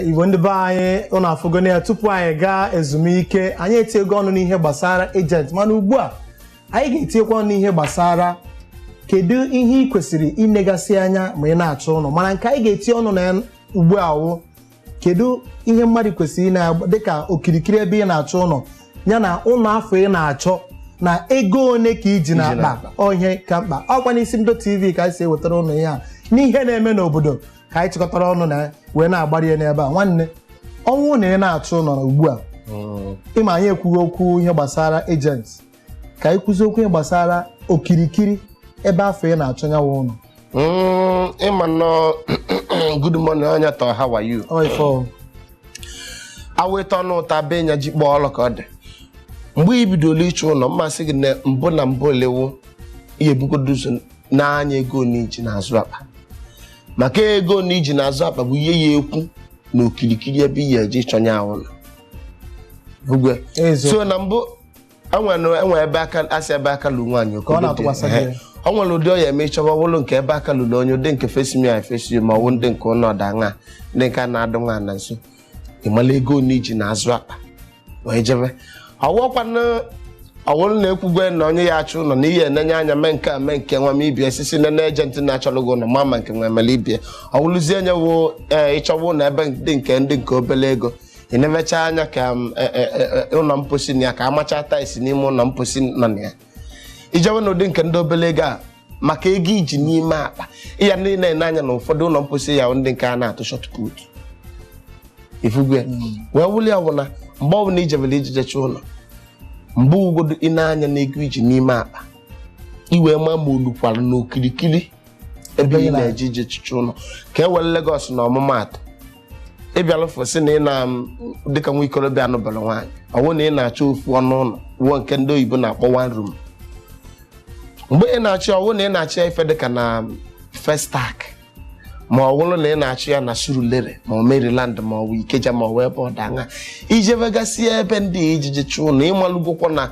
igbo ndị be anyị unu afụgone ya tupu anyị gaa ezumike anyị etiego ọnụ n'ihe gbasara agent mana ugbu a anyị ga-etiekwa ọnụ n'ihe gbasara kedu ihe ị kwesịrị inegasị anya ma ị na-achọ ụnọ mana nke anyị ga-etie ọnụ na ya ugbu a wụ kedu ihe mmadụ kwesịrị ine dịka okirikiri ebe ị na-achọ ụnọ ya na ụnọ afụ ị na-achọ na ego one ka i ji n'akpa ihe ka mkpa ọ kwa n'isi mbido tv ka anyị si ewetara unu ihe a n'ihe na-eme n'obodo ka anyị chịkọtara ọnụ na wee na-agbari ya n'ebe a nwanne ọ wụ na ị na-achọ ụnọ ugbu a ị ma anyị ekwugo okwu ihe gbasara agent ka anyị kwuzie okwu ihe gbasara okirikiri ebe afụ ị na-achọ nya wụ ụnọ Mm, ịma nnọọ good morning onye tọ how are you ọ ife ọ aweta ọnụ ụta be nya ji kpọọ ọlụ ka ọ dị mgbe i bidolu ịchọ ụnọ mmasị gị na mbụ na mbụ olewu ihe ebugodo ụzọ n'anya ego one i ji n'azụ akpa maka ego one i ji n'azụ akpa bụ ihe ya-ekwu na okirikiri ebe ị ya-eji chọọ nya wụ ụnọ Ugwe. ezo so na mbụ e nwe ebe a ka-asị ebe aka lu nwaanyị oke ọ nwere ụdị ọ ya-eme ị chọba ọ bụlụ nke ebe aka luru onye ụdị nke face me i face ma ọ wụ ndị nke ụlọ ọda ṅa ndị nke a na-adụ nwa na nso ị malụ ego one i ji n'azụ akpa wee jebe ọwụọkwana ọ wụrụ na-ekwugwe na onye ya-achọ ụlọ na ihe enenye anya mee nke a mee nke nwa m ibie sisi nene agent na-achọrọ gị ụlọ ma ma nke nwa emele ibie ọ wụrụzie enyewo ee ịchọwa ụlọ ebe dị nke ndị nke obele ego enemecha anya ka m, e, e, e, e, ụlọ mposi na ya ka a machaa tiles n'ime ụlọ mposi nọ na ya i jewe n'ụdị nke ndị obele ego a maka ego i ji n'ime akpa ya ndị na-ene anya na ụfọdụ ụlọ mposi ya ndị nke a na-atụ short put ifugwe wee wuli ya bụ na mgbe ọbụla i jebere ijejecha ụlọ mgbe ugodo ị na-anya na ego i ji n'ime akpa i wee ma ma o lukwara n'okirikiri ebe ị na-eje ije chọcha ụlọ ka e were Lagos na ọmụmaatụ ị bịalụ ọfụụ sị na ị na m dịka nwa ikolobịa anụbarọ nwaanyị ọ wụ na ị na-achọ ofu ọnụ ụnọ wụ nke ndị oyibo na-akpọ one room mgbe ị na-achọ ọ wụ na ị na-achọ ya ife dịka na festac ma ọ bụrụ na ị na-achọ ya na surulere ma ọ maryland ma ọ bụ ikeja ma ọ bụ ebe ọ danga i jebegasị ebe ndị i je-eje chọọ ụnọ ị malụgokwa na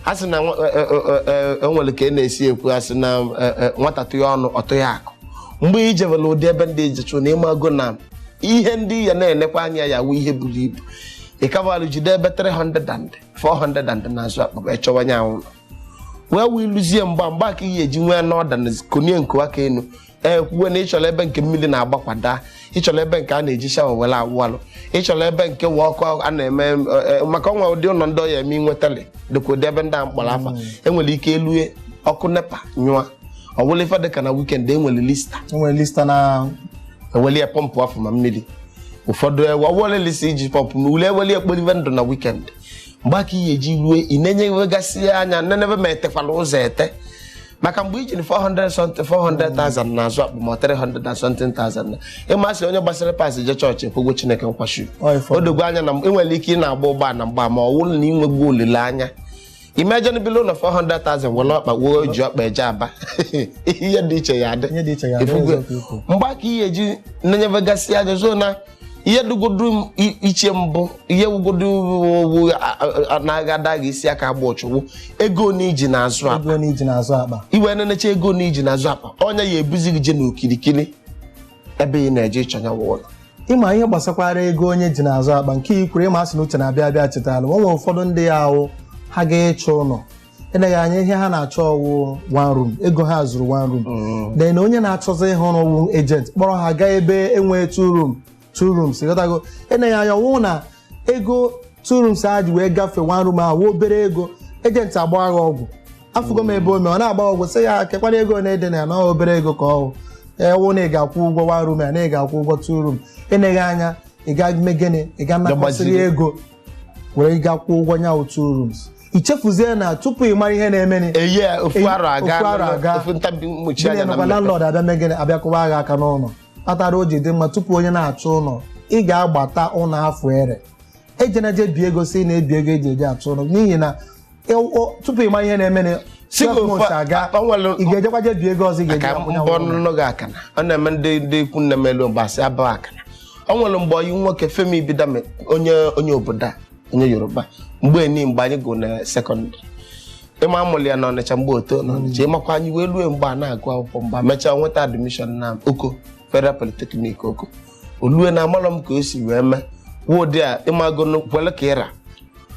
a sị na nwa- e- e- e- e- o nwere ka e na-esi ekwu a sị na e- e, nwata tụghị ọnụ ọ tụghị akụ mgbe i jebere ụdị ebe ndị ije chọ ụnọ ị mago na ihe ndị ị ya na-enekwa anya ya wụ ihe buru ibu ịkabalụ jide ebe 300 thousand 400 thousand n'azụ akpa ị chọwa nya wụ ụnọ wee wee lụzie mgbe a mgbe ka ị ya-eji nwee ụnọ ọda na konie nkowa ka enu ekwuwe na ịchọrọ ebe nke mmiri na-agbakwada ịchọrọ ebe nke a na-eji shawa were awụ alụ ịchọrọ ebe nke nwee ọkụ a na-eme e, e, maka o nwee ụdị ụlọ ndị ọ ya-eme inwetali dịka ụdị ebe ndị a m kpọrọ afa mm. enwere ike elue ọkụ NEPA nyụọ ọwụla ife dịka na wikend enwere lista enwere lista na eweli ya pọmpụ afọ ma mmiri ụfọdụ ewe ọwụla lista eji pọmpụ mmiri eweli ekporive ndụ na wikend mgbe a ka ihe eji rue ị na-enye gasị anya nenebe ma etekwala ụzọ ete maka mgbe i jiri 400 something 400,000 n'azụ akpa ma 300 and something thousand na ịmasị onye gbasara pas je chọọchị kwụgwọ Chineke nkwachi Ọ ifo. o dogo anya na ị nwere ike ị na-agba ụgbọ na mgba ma ọ wụrụ na i nweghu olileanya imagine bili ụlọ 400,000 were ọkpa wuo ji ọkpa eje Aba ihe dị iche ya adị Ihe dị iche ya adị, Ị fụgo. eziokwu i kwu. mgbe a ka ihe ji nenyebegasị anya zoo na ihe dụgodu m i- iche mbụ ihe wụgodu ọ wụ na-aga ada gị isi aka agba ọchụwụ ego na i ji n'azụ akpa ego na i ji n'azụ akpa i wee nenecha ego na i ji n'azụ akpa ọ nya ya-ebuzi gị je n'okirikiri ebe ị na-eje ịchọ nya wụ ụlọ ịma ihe gbasakwara ego onye ji n'azụ akpa nke i kwuru ịma asị na uche na-abịa abịa chetara o nwere ụfọdụ ndị ya-awụ ha gaa ịchọ ụlọ eleghị anya ihe ha na-achọ wụ one room ego ha zuru one room Mm. then onye na-achọzi ihe ọrụ wụ agent kpọrọ ha gaa ebe enwee two room two rooms ịghọtago eleghị anya ọ wụ na ego two rooms a ji wee gafee one room ahụ wụ obere ego agent agba ha ọgwụ afụgo m ebe o mee ọ na-agba ọgwụ sị ya kekwanụ ego na-adị na ya na ọ obere ego ka ọ wụ ewu na ị ga-akwụ ụgwọ one room ya na ị ga-akwụ ụgwọ two room eleghị anya ị ga-eme gịnị ị ga-anakọsịrị Gaa gbaziri. ego were gaa kwụọ ụgwọ nya two rooms i chefuzie na tupu ị mara ihe na-emeni eye ofu Eyi, arọ aga ofu arọ aga. ofu ntabi mgbochi gịnị anya na nakwa mmepe landlord abịa mee gịnị abịa kụwa ghị aka n'ụlọ kpatara o ji dị mma tupu onye na-achọ ụlọ ị ga-agbata ụlọ afọ ere ejena je bi ego sị na-ebi ego eji eje achọ ụlọ n'ihi na tupu ị ma ihe na-eme ị ga-ejekwa je bi ego ọzọ ị ga-eji akwụnye mbọ ọnụnụ gị akana ọ na-eme ndị ndị ikwu nne m elu mbasị abụ akana ọ nwere mgbe ọyị nwoke Femi Ibidame onye onye obodo a onye Yoruba mgbe eni mgbe anyị gụ na sekọndịrị ịma a mụlụ ya na Ọnịcha mgbe o to na Ọnịcha ịmakwa anyị wee rue mgbe a na-agụ akwụkwọ mgbe mechaa nweta admishọn na Oko Federal Polytechnic Oko o lue na amalọ m ka o si wee mee kwuo ụdị a ịmago na kwele ka ị ra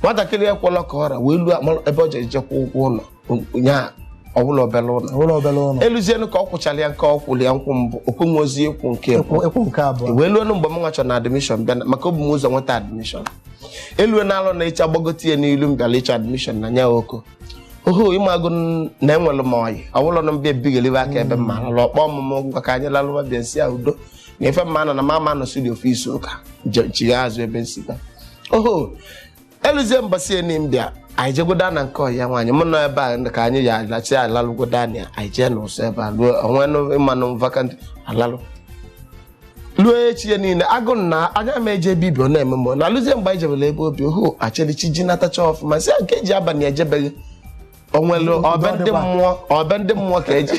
nwatakịrị ya kwela ka ọ ra wee luo amalọ ebe ọ ji eje kwụọ ụgwọ ụlọ nya ọ bụlọ obele ụlọ ụlọ obere ụlọ eluzienụ ka ọ kwụchara ya nke ọ kwụrụ ya nkwụ mbụ okwenwe ozi ịkwụ nke mbụ ịkwụ ịkwụ nke abụọ wee luo mgbe m nwa chọ na admishọn bịa na- maka o bu m ụzọ nweta admishọn elue na alọ na ịcha gbagote ya n'ilu m bịara ịchọ admishọn na nya Oko oho ịmago n- na enwere m ọyị ọ bụlụ na m bịa ebighelibe aka ebe m ma alụ ọkpọ ọmụmụ ngwa ka anyị lalụwa bịa nsi ya udo na ife mma nọ na mama nọ studio ọfịs ụka chigha azụ ebe nsita oho eluzie mbọsị eni m bịa anyị jegoda na nke ọyị nwaanyị mụ nọ ebe a ka anyị ya alachi alalụgoda na anyị jee n'ụsọ ebe a ruo onwe ịmanụ vakant alalụ ruo echi ya niile agụ na anyị ma eje ebe i bi ọ na-eme mgbe na alụzie mgbe anyị jebere ebe o bi ohu echere chi ji natacha ọfụma sị nke e ji abalị eje be gị o nwere ọ be ndị mmụọ ọ be ndị mmụọ ka e ji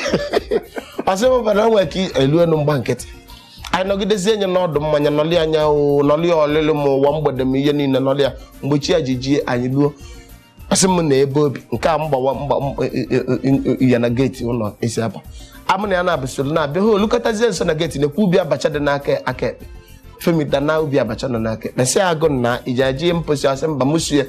ọ sị m bara nwee ka elu elu m gba nkịtị anyị nọgidezie nye n'ọdụ mmanya nọlị anya o nọlị ọlịlị ma ụwa mgbede m ihe niile nọlị ya mgbe chi ya ji jie anyị luo ọ sị m na ebe o bi nke a mgbawa mgba e, e, e, ya na geeti ụlọ e si aba mụ na ya na-abụsoro na-abịa ha o lukọtazie nso na geeti na-ekwu ubi abacha dị n'aka aka ekpe femita na ubi abacha nọ n'aka ekpe sị agụ na ị je-eje mposi ọ sị mba mụ so ya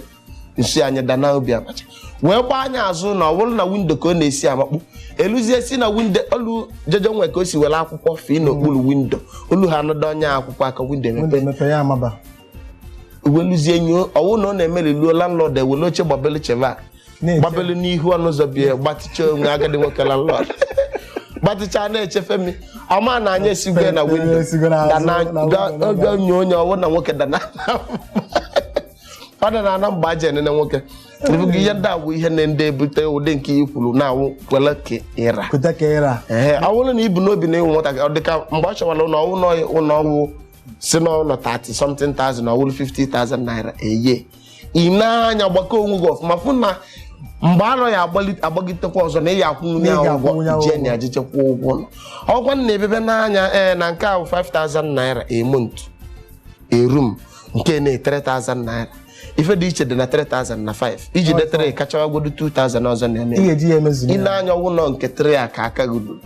nsi anyị dana ubi abacha wee gbaa anya azụ na ọ bụrụ na windo ka ọ na-esi amakpu eluzie si na windo o lu jeje o nwe ka o si were akwụkwọ fee n'okpuru windo o lu ha anọdụ onye akwụkwọ aka windo Windo emepe mepee ya amaba. e wee luzie nye ọ wụ na ọ na-emeri luo landlord ewele oche gbabelu cheva Na-eche. gbabelu n'ihu ọnụ ụzọ be ya gbatịcha onwe agadi nwoke landlord gbatịcha na-eche femi ọ ma na anyị esigo na windo Esigo n'azụ, dana na window, na- ga- ga- nye onye ọ wụ na nwoke dana ọ daa na ana mgbe e ji enene nwoke ebughị ihe ndị a wụ ihe na-ebute ụdị nke ị kwuru na-awụ kwele ka ị ra kweta ka ị ra ee ọ bụrụ na i bu n'obi na ị wụ nwatakịrị ọ dịka mgbe ọ chọwara ụlọ ọ wụ na ụlọ ọgwụ si n'ụlọ 30 something thousand na ọ wụrụ 50,000 naira eye ị nee anya gbakọọ onwe gị ọfụma fụ na mgbe arọ ya agbagitekwa ọzọ na ị ya akwụnwunye ya ụgwọ ị je na ajịchekwa ụgwọ ọgwa na ebebe n'anya ee na nke ahụ 5000 naira a month a room nke na 3000 naira ife dị iche dị na 3000 na 5 i jide 3 ka achọwagodu 2000 ọzọ na-eme ị ga-eji ya emezuru i lee ya anya ọ wụ ụnọ nke 3 a ka aka gị ruru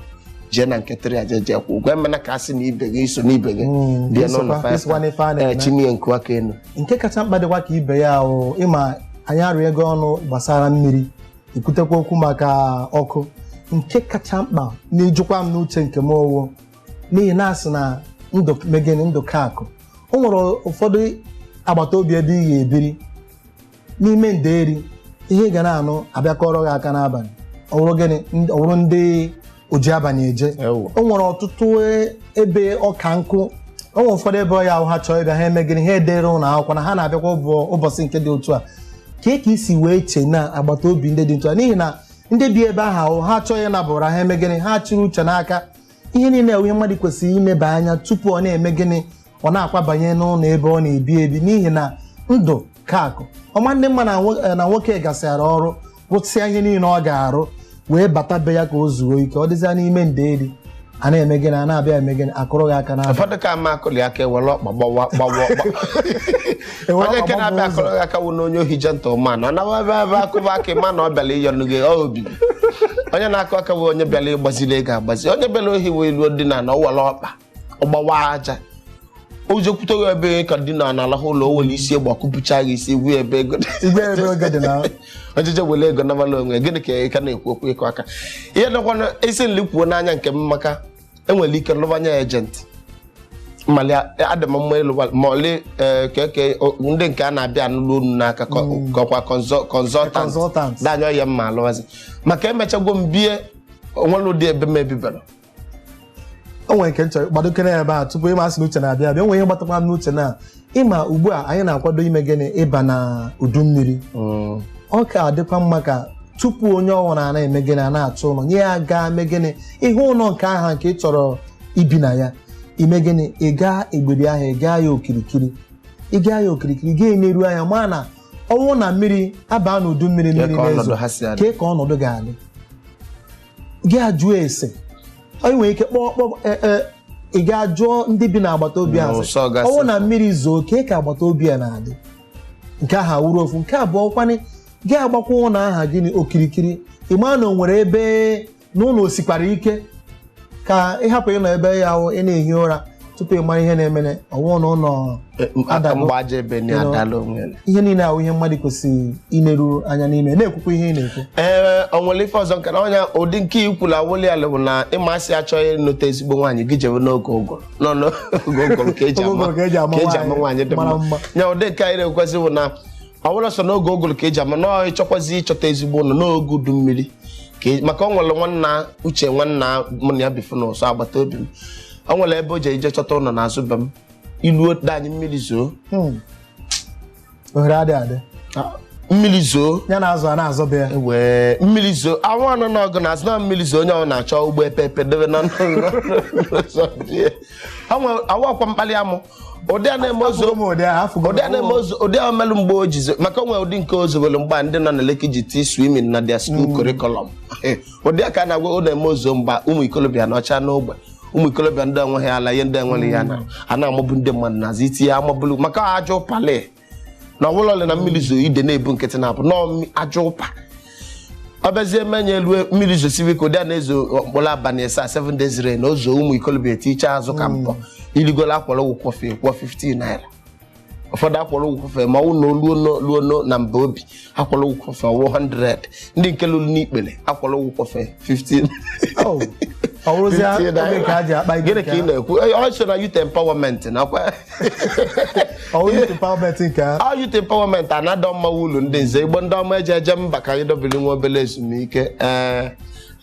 jee na nke 3 a jee jee kwụ ụgwọ emena ka a sị na ibe gị i so n'ibe gị Mm, bie n'ụlọ i sokwa- 5 i sokwa n'ife a na-eme. ee chinie nku aka enu nke kacha mkpa dịkwa ka ibe ya ahụ ị ma anyị arịọ ego ọnụ gbasara mmiri i kwutekwa okwu maka ọkụ nke kacha mkpa nchekwa n'uche nke m owo n'ihi na a sị na ndụ mee gịnị ndụ ka akụ o nwere ụfọdụ agbata obi ebe ị ga-ebiri n'ime nderi ihe ị ga na-anụ a bịa kụọrọ gị aka n'abalị ọ bụrụ gịnị ọ bụrụ ndị oji abalị eje Ewu. o nwere ọtụtụ e- ebe ọ ka njọ o nwere ụfọdụ ebe ọ ya-awụ ha chọọ ịbịa ha eme gịnị ha edere ụlọ akwụkwọ na ha na-abịakwa ụbọ- ụbọchị nke dị otu a ka ka i si wee chee na agbata obi ndị dị otu a n'ihi na ndị bi ebe ahụ ahụ ha chọọ ịnaba ụra ha eme gịnị ha chịrị uche n'aka ihe niile a wụ ihe mmadụ kwesịrị imeba anya tupu ọ na-eme gịnị ọ na-akwabanye n'ụlọ ebe ọ na-ebi ebi n'ihi na ndụ ka akụ ọ ma adị mma na nwo- eh, na nwoke gasịara ọrụ rụsịa ihe niile ọ ga-arụ wee bata be ya ka o zuo ike ọ dịzịa n'ime ndeeri a na-eme gịnị a na-abịa eme gịnị akụrụ gị aka n'aba ụfọdụ ka ama akụli aka ewere ọkpa gbawa gbawa ọkpa Enwere onye nke ọgbọ na-abịa ụzọ. akụrụ gị aka wụ na onye ohi gentleman ọ nawa ebe ebe akụba aka ịma na ọ bịara ịyọnụ gị ọ obi onye na-akụ aka bụ onye bịara ịgbaziri ego agbazi onye bịara ohi wee luo dị na na o were ọkpa ọ gbawa aja o jekwute gị ebe ị ka dina na-alahụ ụla o were isi egbe ọ kụpụcha gị isi kwuo ebe ego dị. ị gwa ya ebe ego dị na ojije were ego nabala onwe gịnị ka ị ka na-ekwu okwu ịkụ aka ihe dịkwa na isi nli kwuo n'anya nke m maka enwere ike lụbanye agent mali adị m mma ịlụ ma ọlị eh, ka eke o- ndị nke a na-abịa anụlụ unu n'aka kọ- kọkwa Consultant. consultant danyọ ya mma alụwazi maka emechagwo m bie o nwere ụdị ebe m ebibara o nwere nke m chọ gbadokere ebe a tupu ịma asị na uche na-abịa abịa o nwere ihe gbatakwa m n'uche na ịma ugbu a anyị na-akwado ime gịnị ịba na udu mmiri Mm. ọ ka dịkwa mma ka tupu onye ọwụla na-eme gịnị a na-achọ ụlọ onye a gaa mee gịnị ị hụ ụlọ nke aha nke ị chọrọ ibi na ya ime gịnị ị gaa egberi ahụ ị gaa ya okirikiri ị gaa ya okirikiri gaa neruo anya ma na ọ wụ na mmiri abaa n'udu mmiri Kee mmiri ka ọnọdụ na-ezo ha si adị. kee ka ọnọdụ ga-adị gị ajụọ ese onye nwere ike kpọọ kpọọ e, e, ị gaa jụọ ndị bi n'agbata obi ahụ N'ụsọ gasị. ọ wụ na mmiri zoo kee ka agbata obi a na-adị nke aha wụrụ ofu nke abụọ kwanị gị agbakwa ụlọ aha gịnị okirikiri ị maa na o nwere ebe n'ụlọ o sikwara ike ka ịhapụ ịnọ ebe ya ahụ ị na-ehi ụra tupu ị mara ihe na-emenụ ọ wụọ na ụlọ Adago. mgbaja ebe na Hello. adala onwe ya. ihe niile a wụ ihe mmadụ kwesịrị ineru anya n'ime na-ekwukwa ihe ị na-ekwu ee o nwere ife ọzọ nke na ọnya ụdị nke i kwulu awụli ala bụ na ị ma a sị ị chọọ ịnụta ezigbo nwaanyị gị jebe n'oge ụgụrụ nọ n'oge ụgụrụ ka eji Oge ama ụgụrụ ka eji ama ka eji ama nwaanyị nwaanyị dị mara mma mma. nya ụdị nke anyị na-ekwuzi bụ na ọ bụla sọ n'oge ụgụlụ ka eji ama na ị chọkwazi ịchọta ezigbo ụlọ n'oge udu mmiri ka e- maka ọ nwere nwanna Uche nwanna mụ na ya bifu n'ụsọ agbata obi m ọ nwere ebe o ji eje chọta ụlọ n'azụ be m i luo dianyi mmiri zoo Hmm. ohere adịghị adị Ah, mmiri zoo ya na azụ a na-azọ be ya wee mmiri zoo awọ anọ n'ọgụ na azụ na mmiri zoo onye ọ na-achọ ụgbọ epepe debe n'ọnụ ụzọ be ya. Ha nwe- awụ ọkwa mkpali amụ ụdị a na-eme o zoo Afụgo m ụdị ahụ, afụgo m. ụdị a na-eme o zoo ụdị a melụ mgbe o ji zoo maka o nwe ụdị nke o zowelu mgbe a ndị nọ na Lekki ji tii swimming na their school curriculum ụdị a ka a na-agwa ọ na-eme o zoo mgbe a ụmụ ikolobịa nọcha n'ogbe ụmụ ikolobịa ndị enweghị ala ihe ndị enweghị ya na a na-amụbụ ndị mmadụ n'azụ itinye amụbụlụ maka ajọ pali na ọbụla ole na mmiri zoo ide na-ebu nkịtị na-abụ nọọ aja ụpa ọ bịazie menye elu mmiri zosibe ike ụdị a na-ezo mkpụrụ abalị asaa 7 days rain o zoo ụmụ ikolobia tiche azụ ka mbọ i rigola akwọrọ gị kwọfee kwụọ 15 naira ụfọdụ akwọrọ gị kwọfee ma ọ wụ na o luo na mba obi akwọrọ gị kwọfee ọ wụ 100 ndị nke luru n'ikpere akwọrọ gị kwọfee 15 Oh, ọ bụrụzie Fifty oge naira. ka a ji akpa ibe gịnị ka nke ị na-ekwu Eh, ọ sị na youth empowerment nakwa ọ bụrụ youth empowerment nke a ọ youth empowerment anadọ mmanwụ ụlọ ndị nze igbo ndị ọma eji eje mba ka anyị dobiri nwa obere ezumike ee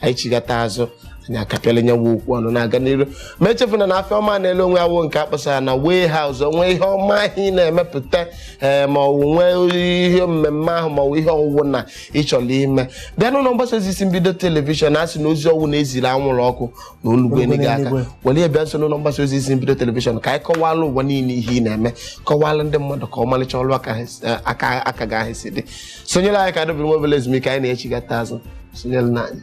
anyị chigata azụ anyị akapịala nya nwa okwu ọnụ na-aga n'iru ma echefuna na afịa ọma na-ele onwe ya wụ nke akpọsara n'awara ụzọ o nwee ihe ọma ahụ ị na-emepụta ee ma ọwụ nwee ihe mmemme ahụ ma ọwụ ihe ọwụwụ na ịchọrọ ime bịa n'ụlọ mgbasa ozi isi mbido telivishọn a sị na ozi ọwụna eziri anwụrụ ọkụ na o lugo enigwe aka were ya bịa nso n'ụlọ mgbasa ozi isi mbido telivishọn ka anyị kọwalụ ụwa niile ihe ị na-eme kọwalụ ndị mmadụ ka ọmalịcha ọrụ aka ha si- aka aka gị ahụ si dị sonyere anyị ka anyị dobiri nwa obere ezumike anyị na-echigata azụ sonyerenụ anyị